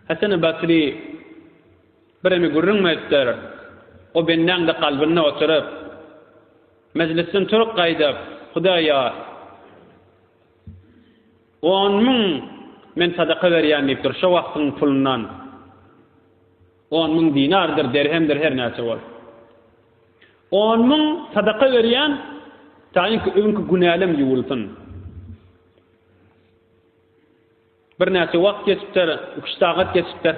Hasan-y Basry birimi gürrüň etdir. O bendäň-de kalbynda oturyp, mejlisden turup gaýdyp, Hudaýa on müň men sadaka berýän diýipdir, şo wagtyň pulundan on müň dinardyr, derhemdir, her näçe bol. On müň sadaka berýän, taýynky öňki günälem ýuwulsyn. Birnäçe wagt geçipdir, iki-üç sagat geçipdir.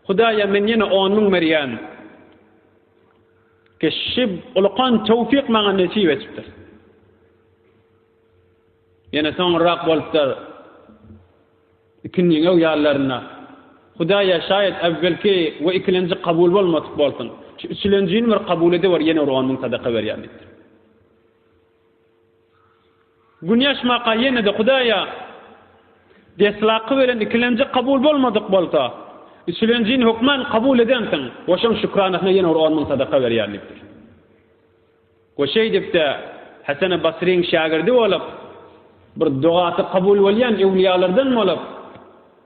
Hudaýa men ýene on müň berýän. Kişi ulukan töwfik maňa nesip etipdir. Ýene soňurrak bolupdyr, ikindiňew ýallarynda. Hudaýa şaýat äwwelki we ikilenji kabul bolmadyk bolsun. Şu üçülenjini bir kabul ediber, ýene bir on müň sadaka berýän diýipdir. Günýaş maka ýene-de Hudaýa deslapky beren ikilenji kabul bolmadyk bolsa, üçülenjini hökman kabul edensiň we şoň şükranasyna ýene bir on müň sadaka berýän diýipdir. We şeýdip-de Heseni Basryň şägirdi bolup, bir dogasy kabul bolýan öwlüýalardan bolup,